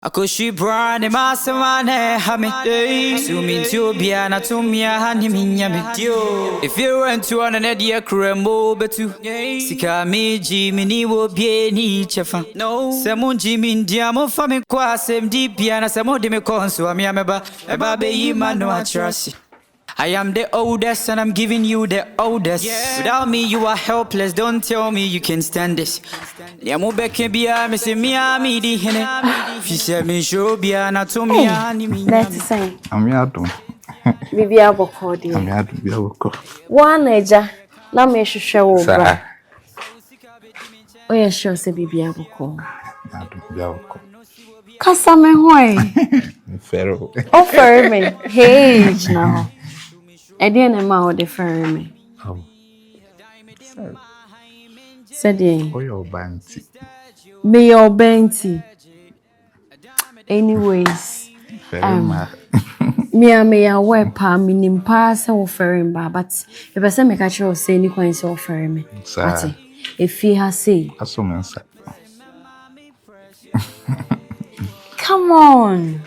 Akɔhwi braa ne ma asɛm a na ɛha me So mentie obiara na to mmea ha ne me nya me Efie rɛntu ɔno ne deɛ kura mu o bɛtu Sika a megye menni wɔ obiara ni kyɛfa Sɛ mongye mendi a momfa me nkɔ asɛmdibea Na sɛ mode me kɔ nso a me a mɛba Mɛba abɛyi m'ano akyerɛ ase I am the oldest and I'm giving you the oldest yeah. Without me you are helpless Don't tell me you can stand this Nea mo bɛka biara me se me a me di hene Fi sɛ me nhyɛ obiara na to me a ne me nyame Ame adom Bibi abɔkɔ deɛ Ame adom bi abɔkɔ Woa na agya na me hwehwɛ wo bra Oyɛ sure sɛ bibi abɔkɔ Adom bi abɔkɔ Kasa me ho ɛ. Mfɛre o. O fɛre me. Hey, gyina hɔ. Ɛdeɛ na ɛma o de fɛre me. Sɛdeɛ. Oyɛ ɔba nti. Meyɛ ɔba nti. Anyways. Fɛre um, ma. Mea meyɛ aware paa menim paa sɛ wo fɛre mba but mepɛ sɛ meka kyerɛ wo sɛ ni kwan sɛ wo fɛre me. Ate. Efie ha sei. Aso me nsa. Come on.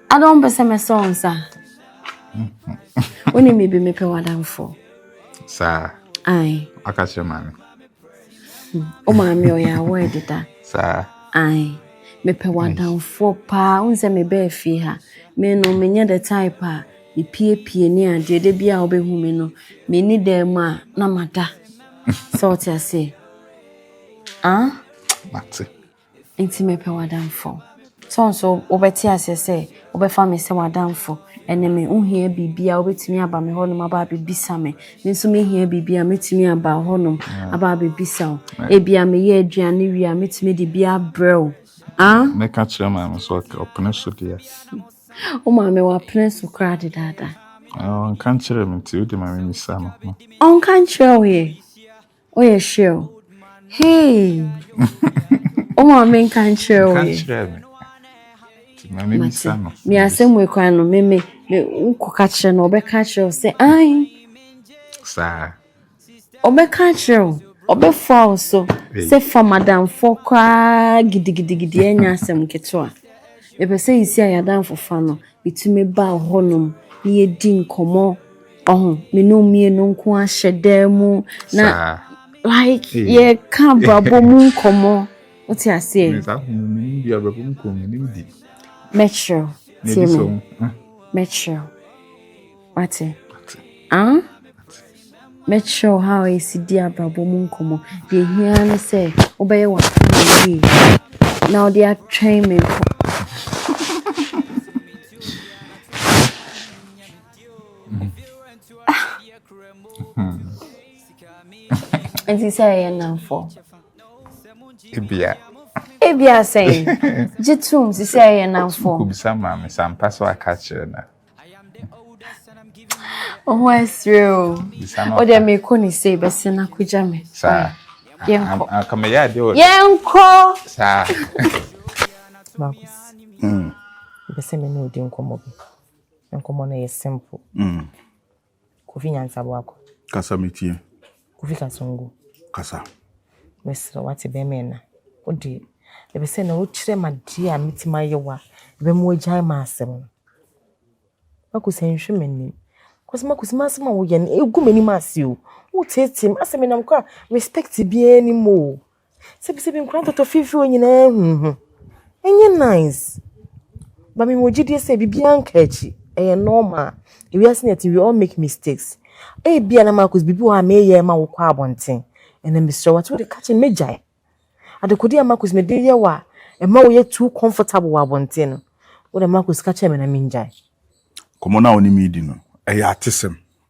I don't pese me so nsa. Woni mi bi me pe wadamfo. Sa. Ai. Aka kire maame. Hmm. O maame o ya wo edida. Sa. Ai. Me pe wadamfo pa. Unse me be fie ha. Me no me nye the type a me pie pie ni ade de bia obehu me no. Me ni dem a na mada. So what you say? Ah? Mate. Nti mepɛ w'adamfo. So nso wobɛte aseɛ sɛ wobɛfa me sɛ w'adamfo ɛne me wohia biribi a wobɛtumi aba me hɔnom aba abɛbisa me me nso mehia biribi a mɛtumi aba hɔnom aba abɛbisa wo ebia meyɛ aduane wie a mɛtumi de bi abrɛ wo ah? mɛka kyerɛ maame so ɔpene so deɛ wo maame wapene so koraa dedaada ɔnka nkyerɛ me nti wode ma me misa no ɔnka nkyerɛ wo yɛ Woyɛ hwɛ o. Hey! Wo maame nka nkyerɛ wo yɛ. Nkyerɛ me. Ti maame mi sa no. Me asɛm wɔ kwan no me me me wokɔ ka kyerɛ no ɔbɛka kyerɛ wo sɛ an. Saa. Ɔbɛka kyerɛ wo. Ɔbɛfoa wo so sɛ fa madamfoɔ koraa gidigidigidi ɛnyɛ asɛm ketewa. Mepɛ sɛ yɛsi ayɛ adamfofa no. Metumi ba hɔnom na yɛdi nkɔmmɔ. Ɔho me no mmienu nko ahyɛ dan mu na like yɛ ka abrabɔ mu nkɔmɔ o ti aseɛ. Nsa ho mi ni bi abrabɔ mu nkɔmɔ mi ni mi di. Mɛkyerɛw tie mi mɛkyerɛw wate ah mɛkyerɛw ha a yɛsi di abrabɔ mu nkɔmɔ deɛ hia ne sɛ wobɛyɛ w'asɛm yie na wode atwɛn me nkɔ. Nti sɛ ɛyɛ nnamfo. Ebia. Ebia sɛn? Gye tom si sɛ ɛyɛ nnamfo. Kobisa maa me sɛ ampa sɛ waka kyerɛ na. Wo ho asere o. Wo deɛ mekɔ ne sei bɛsɛ no akɔgya me. Saa. Yɛnkɔ. Anka meyɛ adeɛ wɔ. Yɛnkɔ. Saa. Marcus. Mm. Bɛsɛ me ne odi nkɔmmɔ bi. Nkɔmmɔ no yɛ simple. Mm. Kofi Nyansa Boako. Kasa metie. Kofi Kasongo. Kasa. Mesrɛ wate bɛrima ɛna. Wode ɛbɛ sɛ na wokyerɛ ma deɛ a metumi ayɛ wa ɛbɛ mu agyae ma asɛm no. Makosi nhwɛ m'anim. Kɔsi makosi m'asɛm a woyɛ no egu m'anim ase o. Woteetee m asɛm nam kora respect biara ni mu o. Sebisebi nkwadaa ntoto fifiri hɔ nyinaa hu ho. Ɛnyɛ nice. But mewɔ gyidie sɛ biribiara nka akyi. Ɛyɛ normal. Ewiase na yɛte we all make mistakes. Ebia na Marcus biribi wɔ hɔ a meyɛ ma wokɔ abɔnten. Ɛnna mesrɛ wo ate wode ka kyerɛ me mɛgyae. Adekodeɛ a Marcus mede yɛ wo a ɛma woyɛ too comfortable wɔ abɔnten no, wode Marcus ka kyerɛ me na mengyae. Nkɔmmɔ no a wo ne me redi no, ɛyɛ atesɛm.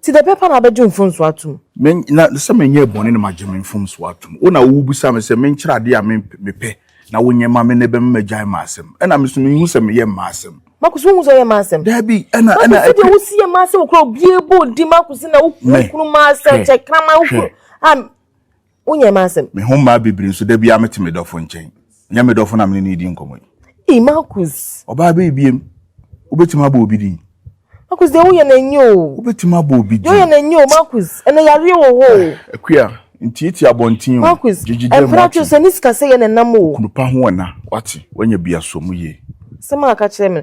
Ntsi dɛ bɛpa na abɛgye mfomso ato mu. Me, na sɛ mennyɛɛ bɔne na magye me mfomso ato mu. Wo na wobisa me sɛ menkyerɛ ade a me, mepɛ na wonyɛ mma me na ɛbɛma magyae m'asɛm. Ɛna me so menhu sɛ meyɛ m'asɛm. Marcus, wonhu sɛ woyɛ m'asɛm? Daabi, ɛna, ɛna. Marcus, sɛdeɛ wosi yɛ m'asɛm koraa, obiara bɔ wo din, Marcus, na wo, wo kunu m'asɛm, kyɛ kraman, wo kunu, a. Wonyɛɛ m'asɛm. Me ho mmaa bibiri nso, da biara mete me dɔfo nkyɛn. Ɛnyɛ me dɔfo na me ne no redi nkɔmmɔ yi. Ei, Marcus! Ɔbaa bɛyi biem. Wobɛtumi abɔ obi din? Marcus, deɛ woyɛ no ɛnyɛ o. Wobɛtumi abɔ obi din? Deɛ woyɛ no ɛnyɛ o, Marcus. Ɛnɛ yareɛ wɔ hɔ o. Akua, ntiatia abɔnten o. Marcus, mprɛtwe so ne sikasɛeɛ na ɛnam o. Okunupa ho ɛna, wate? Woanya biasoɔ mu yie. Asɛm a ɔka kyerɛɛ me no,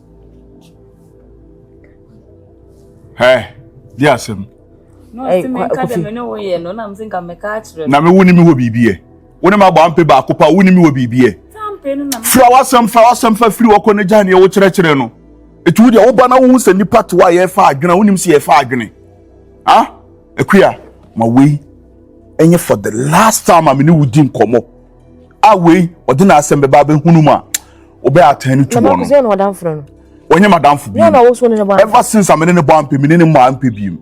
Hɛ, di asɛm. Na me wo ne me wɔ biribi ɛ. Wo ne ma bɔ ampe baako pa, wo ne me wɔ biribi ɛ. Fira w'asɛm, fira w'asɛm fa firi wɔkɔ ne gya neɛ wo kyerɛkyerɛ no. Etu wo deɛ wo ba na wohu sɛ nipa to a yɛfa adwene a wonim sɛ yɛfa adwene. Ah, akuya, ma wei ɛnyɛ for the last time a me ne wo di nkɔmmɔ. a wei ɔde n'asɛm bɛba abɛhunu mu a ɔbɛ atɛn no tu wɔn no wɔnyɛ madamfo bi ever since amene ne bɔ ampe mene ne mɔ ampe bi mu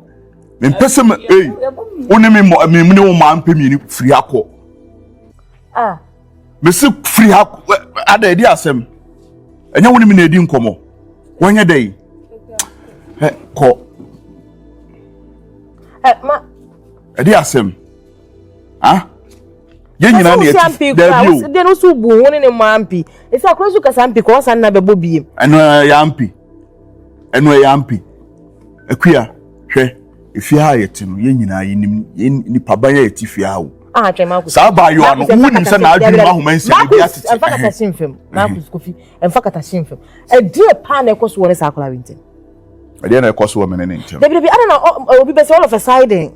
mempɛ sɛ me ei wo ne me mɔ me ne wo mɔ ampe mmienu firi ha kɔ ah. mesi firi ha ada ɛdi asɛm ɛnyɛ wo ne me na ɛdi nkɔmmɔ wɔnyɛ dɛ yi kɔ ɛdi asɛm ah yɛn nyinaa na yɛte fi daabi o deɛ no so bu ho ne ne mu ampi ɛsɛ akora so kasa mpi kɔ ɔsan na bɛbɔ biem ɛno ɛyɛ ampi ɛno ɛyɛ ampi akua hwɛ efie a yɛte no yɛn nyinaa yɛnim yɛn nipa ban a yɛte fie a o ah, saa abaayewa no wonim sɛ n'adwene mu ahoma nsia ebi atete ɛmfa kata si mfam marcus kofi ɛmfa kata si mfam ɛdeɛ paa na ɛkɔ so wɔ ne saa akora bi ntɛm ɛdeɛ na ɛkɔ so wɔ me ne ne ntam dabi dabi ada na obi bɛsɛ all of a sudden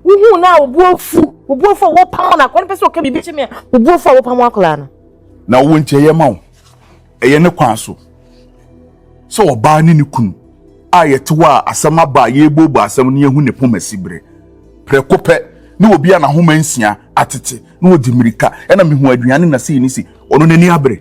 wohu na wobu afu wobu afu a wopam no akora no pɛ sɛ ɔka biribi kyɛ me a wobu afu a wopam akora no na wo nkyɛ yɛ ma wo ɛyɛ ne kwan so sɛ ɔbaa ne ne kunu a yɛte hɔ a asɛm aba a yɛbɔbɔ asɛm no yɛhu ne poma si berɛ prɛko pɛ ne obi a n'ahoma nsia atete na ɔdi mmirika ɛna mehu aduane na sei ne si ɔno n'ani abere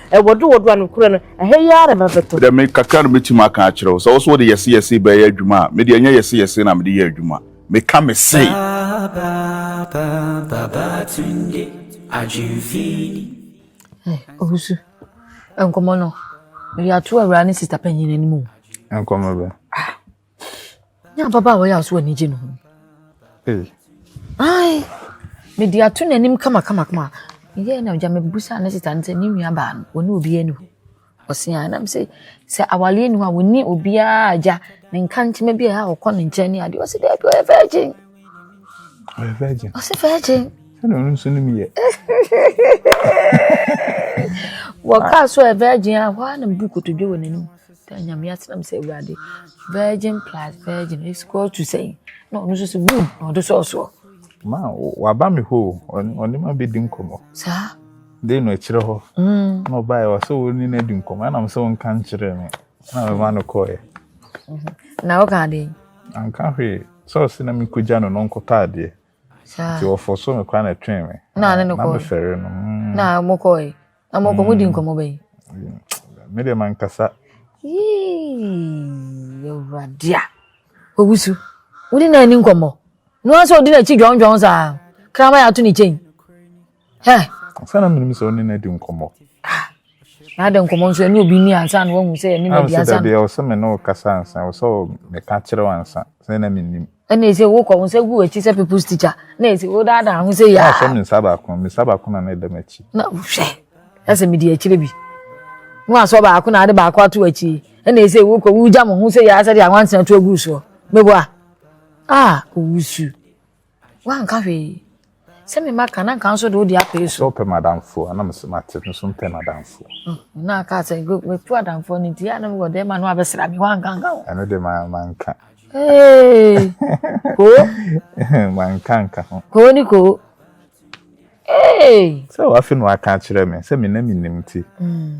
Wɔdoɔ doɔ a nokorɛ no ɛhɛ yi ara na ɛbɛbɛtɔ. Medeɛ me kakra na mɛtumi aka akyerɛ wo, sɛ wo so wode yɛse yɛse bɛɛyɛ adwuma a, medeɛ ɛnyɛ yɛse yɛse na mede yɛ adwuma, meka mese. Hey Owusu, nkɔmmɔ no, yɛato awuraa ne sista panyin anim o. Nkɔmmɔ bɛn? Ah. ne ababaawa yɛ aso ani gye ne ho ai mede ato n'anim kamakamakama yɛ na gya mebusa ne sita no sɛ ne nua baa no ɔne obiaa ni hɔ ɔsea nam sɛ sɛ awareɛ ni hɔ a wɔni obiaa agya ne nka nkyema bi a ɔkɔ ne nkyɛn ne adeɛ ɔsɛ daabi ɔyɛ virgin ɔyɛ virgin ɔsɛ virgin sɛdeɛ ɔno nso nom yɛ wɔkaa so ɛ virgin a hɔ a na mebu kotodwe wɔ n'anim Da Nyame ase na mese Awurade virgin plus virgin is equal to sɛn na ɔno nso so boom na ɔde sɔɔ soɔ. Ma waba me hɔ o, ɔne ma bɛdi nkɔmmɔ. Saa? Dei no akyirɛ hɔ mm. na ɔbaeɛ wɔ sɛ wo ne no adi nkɔmmɔ ɛnam sɛ wonka nkyerɛ me na mema no kɔeɛ. Mhm. Na woka adeɛ? Anka hwee sɛ ɔse na mekɔgya no no nkɔtɔ adeɛ nti wɔfɔ so me koraa na ɛtwee me na mefɛre no. Mm. Na mokɔe? na mo kɔ mo di nkɔmɔ bɛyi. me deɛ mankasa awurade a ɔwusu wode na ani nkɔmmɔ no a sɛ ɔde n'akyi dwɔndwɔn saa krama yɛ ato ne kyɛn sɛna menim sɛ wone no adi nkɔmmɔ na adɛ nkɔmmɔ nso ɛne obi ni ansa na wahu sɛ ɛne no adi ansa deɛ ɔsɛ me ne wokasa ansa ɔsɛ meka kyerɛ wo ansa sɛ na menim ɛna ɛsɛ wokɔ wo nsa gu w'akyi sɛ people's teacher na ɛsɛ wodaadaa ho sɛ yaa sɛ me nsa baako me nsa baako na na ɛda m'akyi na hwɛ ɛsɛ mede akyire bi na wasɔ baako na ade baako ato akyi ɛna ɛsɛ wokɔ wogya mo ho sɛ yaa sɛ de awansena to agu soɔ meboa ah owusu Woanka hwee. Sɛ me mma ka na nka nso de wode apere so. Sɛ ɔpɛ m'adamfoɔ a na mese mate no so mpɛ m'adamfoɔ. Mm, na aka sɛ metu adamfoɔ no nti a na mewɔ dɛma no abɛsra me woanka nka ho. Ɛno de manka. Ee, koo. Manka nka ho. Koo ne koo. Ee. Sɛ wafe no aka akyerɛ me sɛ me na menim nti. Mm.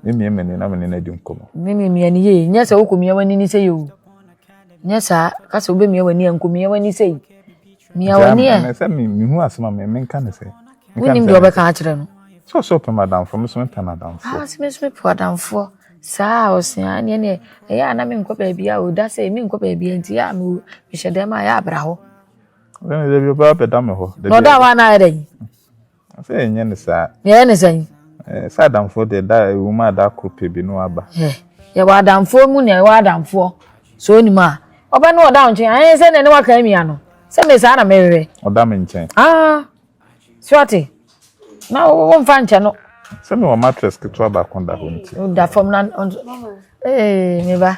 Mimia m'ani na me ne no adi nkɔmmɔ. Mimi mia ne yie. Nyɛ sɛ wokɔmia w'ani ne sɛ yɛ o. Nyɛ saa. Ka sɛ wobɛmia w'ani a, nkɔmia w'ani sɛ yi. Mia w'ani ɛ. Sɛ mehu asɛm a menka ne sɛ. Wonim deɛ wɔbɛka akyerɛ no. Sɛ ɔsɛ ɔpɛ m'adamfoɔ, me so mepɛ n'adamfoɔ. Ah, sɛ me so mepɛ adamfoɔ. Saa ɔsea ne ɛneɛ ɛyɛ a na menkɔ baabi a o da sɛ menkɔ baabi a nti yɛ a mehyɛ dɛm a yɛ abra hɔ. Ɛne dɛ bi ɔbaa bɛda me hɔ. Na ɔda hɔ a na ayɛ dɛ yi. Sɛ yɛnyɛ ne saa. Yɛyɛ ne sɛn? Sɛ adamfoɔ deɛ da ɛwɔ mu a da koro pɛ bi na waba. Yɛwɔ adamfoɔ mu nea ɛwɔ adamfoɔ sɛ onim a ɔbɛ no ɔda wo nkyɛn ayɛ sɛ nea ne waka amia no sɛ me saa na mehwehwɛ. Ɔda me nkyɛn. Ah, so ate na wɔmfa nkyɛ no. Sɛ mewɔ mattress ketewa baako da hɔ nti. Woda fam na ee me ba.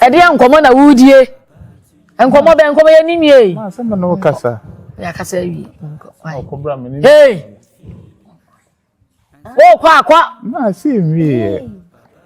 Ɛdeɛ nkɔmɔ na wudie? Nkɔmɔ bɛ nkɔmɔ yɛ ni nwie. Maa sɛ mo na o kasa. Yɛ akasa wie. Ɔkɔbra mi ni. Hey. O kɔ akɔ. Maa sɛ nwie yɛ.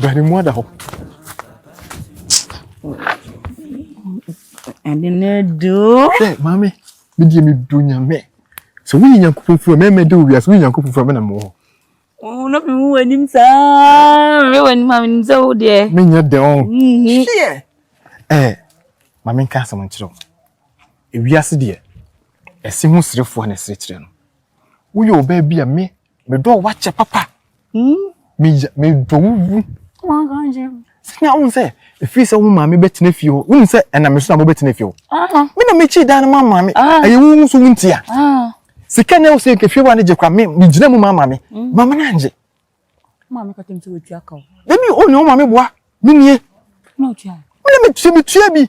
Bɛn mu ada hɔ. Ɛde na edu. Ɛ maame, mi di mi du nyame. Sɛ woyɛ nyankopɔn fura mɛmɛ de wo wiase woyɛ nyankopɔn fura mɛna mɔ. Wɔn na mi hu w'anim saa. Mi wɔ anim a mi nim sɛ wo deɛ. Mi nyɛ dɛ ɔn. Ɛ maame nka asɛm nkyerɛ wo. Ewiase deɛ ɛsi ho serefoɔ na ɛsere kyerɛ no. Woyɛ ɔbaa bi a me Medɔ wo wakyɛ papa. Hmm? Meyɛ medɔ wo wu. Sɛnea wohu sɛ ɛfiri sɛ wo maame bɛtena fie hɔ wonim sɛ ɛna me so na mobɛtena fie hɔ ah. me na mekyi dan no ma maame ah. ɛyɛ wo nso wontia ah. sika na ɛwɔ sɛ nka fie wa no gye kora megyina mu ma maame mm. maame no angye dabi ɔne wo maame boa menie mene metua bi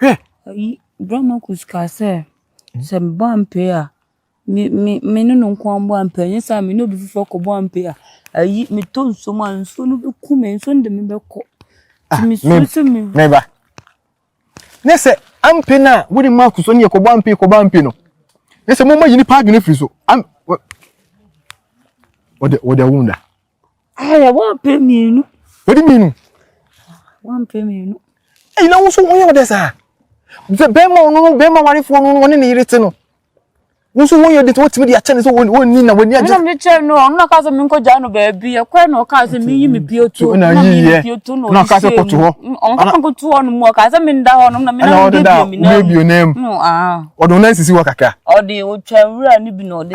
Hwɛ! Ayi, Bra Marcus kaa sɛ, sɛ mebɔ ampe a, me, me, me ne no nko ara mbɔ ampe, ɛnyɛ saa a, me ne obi foforɔ kɔbɔ ampe a, ayi, metɔ nsuo mu a, nsuo no bɛku me, nsuo no de me bɛkɔ. Ah, me, me ba. Ne sɛ ampe no a wode ma akuso ne yɛkɔbɔ ampe kɔbɔ ampe no ne sɛ moma yi nipa adwene firi so wɔde wɔde awo da Ayɛ wampɛ mmienu. Wadi mmienu. Wampɛ mmienu. Eyi na woso wɔn yɛ ɔdɛ saa. Sɛ bɛrima ɔno no bɛrima warefoɔ no wɔne ne yere te no. Woso wɔn yɛ ɔdɛ sɛ wɔtumi de akyɛ ne sɛ wɔn ni na wɔn ni agye. Ɛna mi kyɛ no ɔno na kaa sɛ mi nkɔ gya no baabi ɛkɔɛ na ɔkaa sɛ mi yi mi pie to na mi yi mi pie to na ɔde se mu. Ɔno kaa nko to hɔ no mu ɔkaa sɛ mi nda hɔ no na mi na mi de bi mi na mu. Ɔde ɔnan sisi hɔ kakra. Ɔde otwa nwura ne bi na ɔde.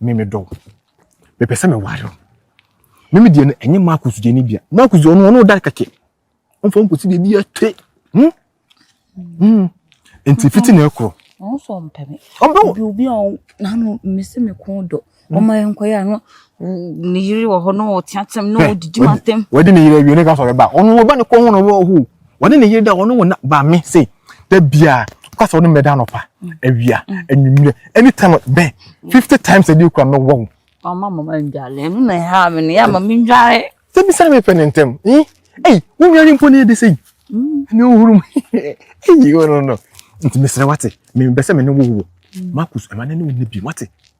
me medɔ wo mepɛ sɛ meware wo me me deɛ no ɛnyɛ marcus deɛ no bia marcus deɛ ɔno ɔno ɔda kɛkɛ ɔmfa wo nkɔsi baabi ɛte hmm? hmm. nti fiti na ɛkorɔ ɔmo sɔ mpɛ me ɔmpɛ wo obi obi a n'ano mmesi me kɔn dɔ hmm. ɔmo ayɛ nkɔyɛ ano ne yiri wɔ hɔ na ɔteateam na ɔdidi ma ntɛm wɔde ne yiri awie ne ka sɔrɔ ba ɔno ɔba ne kɔn ho na ɔwɔ hoo Wɔne ne yere da, wɔne wɔn na ba me se da biara ɔka sɛ ɔne mɛda anɔpa awia anwummerɛ ɛne tam bɛn fifty times a ɛdi kura mɛ wɔn. ɔma mama ndwale ɛno na ɛha me no yɛ ama me ndwale. sɛ bi sɛ me pɛ ne ntɛm ɛyi ɛyi wo nware mpo ne ɛde sɛ yi ne wohuru mu ɛyi o no no nti mesrɛ wate mebɛ sɛ me ne wo wo Marcus ɛma ne ne wo ne bi wate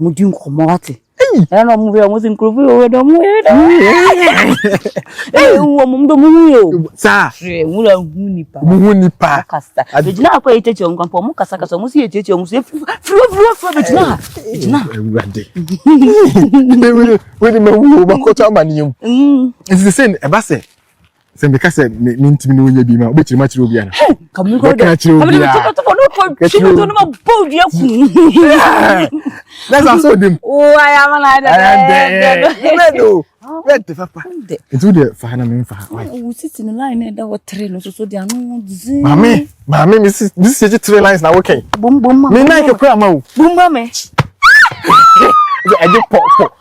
Ɔmo di nkɔmɔ wate. Ɛna na ɔmo hwɛ ɔmo si nkurɔfo yi ɔwɛ dɛ ɔmo yɛ dɛ. Ɛna ehu wɔn ɔmo dɛ ɔmo hu yɛ o. Saa. Hwɛ nwura hu nipa. Ɔmo hu nipa. Ɔmo kasa. Egyina akɔ yɛ kyekye ɔmo kan pɔ ɔmo kasa kasa ɔmo si yɛ kyekye ɔmo so efiri firi firi firi bɛ gyina ha. Egyina. Ewura de. Ewura wɛni ma wu o ma kɔtɔ ama ni yɛm. Nsese ɛba sɛ. sɛ meka sɛ mentumi ne wo nyɛ bi ma wobɛkyerɛ mu akyerɛ obiara mɛka akyerɛ obiara na sa sɛ odim wɛde papa nti wodeɛ fa ha na memfa ha maame maame mesisi gye tre lines na wokɛn me nike kora ma o ɛgye pɔpɔ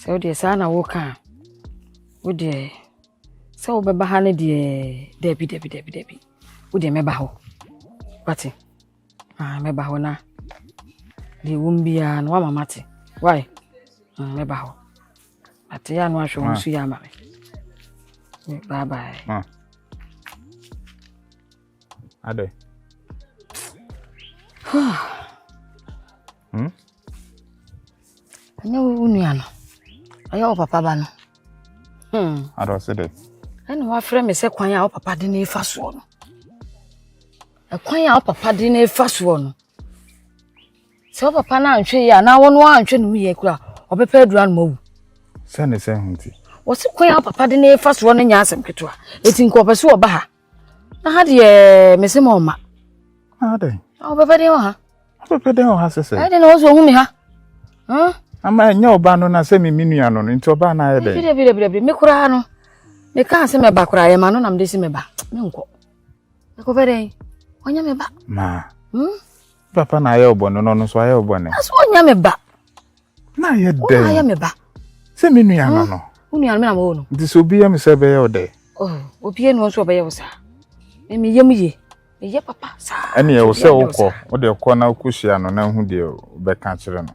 Sɛ wodeɛ saa na woka a, wodeɛ sɛ wobɛba ha no deɛ dabi dabi dabi dabi wodeɛ mɛba hɔ wate ah, mɛba hɔ na deɛ wom biara no woama mate wae mm, mɛba hɔ ate yɛ ano ahwɛ wo so yɛ ama me bye bye ah. Adɛ? Hmm? Ɛnyɛ wo nua no. Ɔyɛ wo papa ba no. Hmm. Adɛ ɔse dɛ? Ɛna wafrɛ me sɛ kwan a wo papa de ne fa soɔ no. Ɛkwan a wo papa de ne fa soɔ no. Sɛ wo papa no antwe yɛ a na wɔn antwe ne ho yɛ kura ɔbɛpɛ adura no ma wu. Sɛ ne sɛ ho nti. Wɔsi kwan a wo papa de ne fa soɔ no nyɛ asɛm ketewa. Eti nkɔpɛ so ɔba ha. na ha deɛ mese ma ɔma adɛn wobɛpɛ den wɔ ha wobɛpɛ den wɔ ha sɛ sɛ ɛde na wo so ɔhu me ha ama ɛnyɛ ɔba no na sɛ me me nua no no nti ɔba no ayɛ dɛn bidabidabidabidi me koraa no mekaa sɛ mɛba koraa yɛma no na mede se mɛba menkɔ mekɔpɛ dɛn ɔnyɛ meba maa hmm? Papa na ayɛ ɔbɔne no no nso ayɛ ɔbɔne. Aso ɔnyɛ me ba. Na ayɛ dɛ. Ɔna ayɛ me ba. Sɛ me nua no hmm? no. Wo nua no me na mawɔ no. Nti sɛ obi yɛ me sɛ ɛbɛyɛ wo dɛ. Oh, obi yɛ no nso ɔbɛyɛ wo saa. Me yam ye. Me yɛ papa saa. Ɛne ɛwɔ sɛ wokɔ. Wode kɔ na wokɔhyia no na hu deɛ wobɛka kyerɛ no.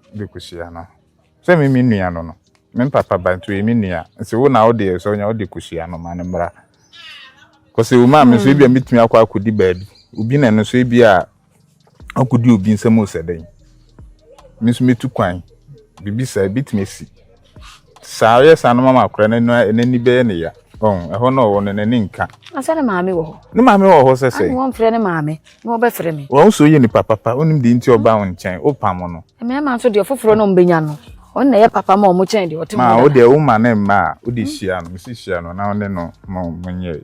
de kosua no. Sɛ me me nua no no, me papa ba nti ɔyɛ me nua. Nti wo na wode ɛsɛ ɔnya wode kosua no ma no mmra. Kɔsɛ wo maa me nso ebi a hmm. metumi akɔ akɔdi baabi. Obi na no nso ebi a akɔdi obi nsɛm o sɛ dɛn. Me nso metu kwan. Biribi saa ebi tumi si. Saa yɛ saa no mama akora no n'ani bɛyɛ ne ya ɔn ɛhɔ na ɔwɔ no n'ani nka. Asɛ ne maame wɔ hɔ. Ne maame wɔ hɔ sɛ sɛ. Ani wɔn frɛ ne maame na ɔbɛ frɛ mi. Wɔn so yɛ nipa papa onim di nti ɔba wɔn nkyɛn o pam no. Mmarima nso deɛ foforɔ na ɔmbɛnya no ɔn na ɛyɛ papa ma ɔmo kyɛn deɛ ɔte mu dada. Maa o deɛ o ma ne mma a o de hyia no si hyia no na ɔne no mo mo nyɛ.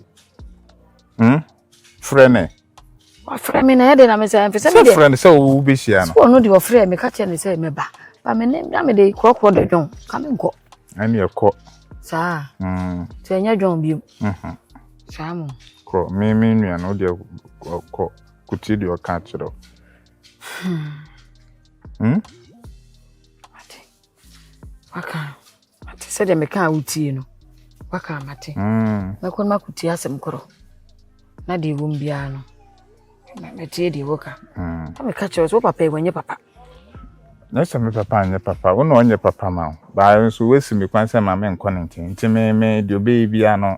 Hmm. frɛ ne wafrɛ me na ɛde na mesɛ mfisɛ me deɛ frɛ no sɛ wobɛhyia no ɔno deɛ ɔfrɛ me ka kyerɛ ne sɛ mɛba ba me ne na mede korɔkorɔ dɔ dwon ka me nkɔ ɛne ɛkɔ saa mm. nti ɛnyɛ dwon biom mhm. saa mo kɔ me me nua no wodeɛ kɔ kotie deɛ ɔka kyerɛ hmm. hmm? waka mate sɛdeɛ mekaa wotie no waka mate mm. mɛkɔ no makotie asɛm korɔ na deɛ ɛwom biara no mɛtie deɛ woka mm. na meka kyerɛ sɛ wo papa ɛwɔ nyɛ papa na sɛ me papa anyɛ papa wo na ɔnyɛ papa ma wo baa nso woasi me kwan sɛ ma menkɔ ne nkyɛn nti me me deɛ ɔbɛyɛ biara no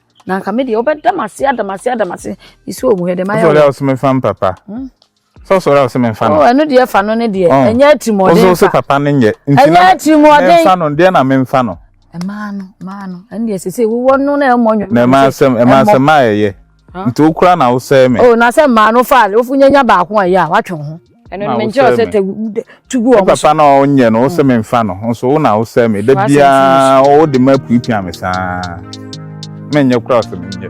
na nka me deɛ wobɛda me ase ada me ase ada me ase mesi wɔ mu hɛ dɛ mayɛ wosɔre a wosɛ memfa me papa hmm? sɛ wosɔre a wosɛ memfa no oh, ɛno deɛ fa no ne deɛ oh. ɛnyɛ atirimuɔden wosɛ papa no nyɛ ɛnyɛ atirimuɔden memfa no deɛ na memfa no ɛmaa no ɛmaa no ɛno deɛ sese wowɔ no na ɛmmɔ nwom na ɛmaa sɛm ɛmaa sɛm a ɛyɛ nti wokura na wosɛ me oh na sɛ mmaa no fa wofu nyanya baako a ɛyɛ a watwe ho ɛno no mengye ɔsɛ tɛ tu gu wɔn so papa na ɔnyɛ no ɔsɛ me nfa no nso wo na wosɛ me da biara wode ma puapua me saa menyɛ kora ɔsɛ menyɛ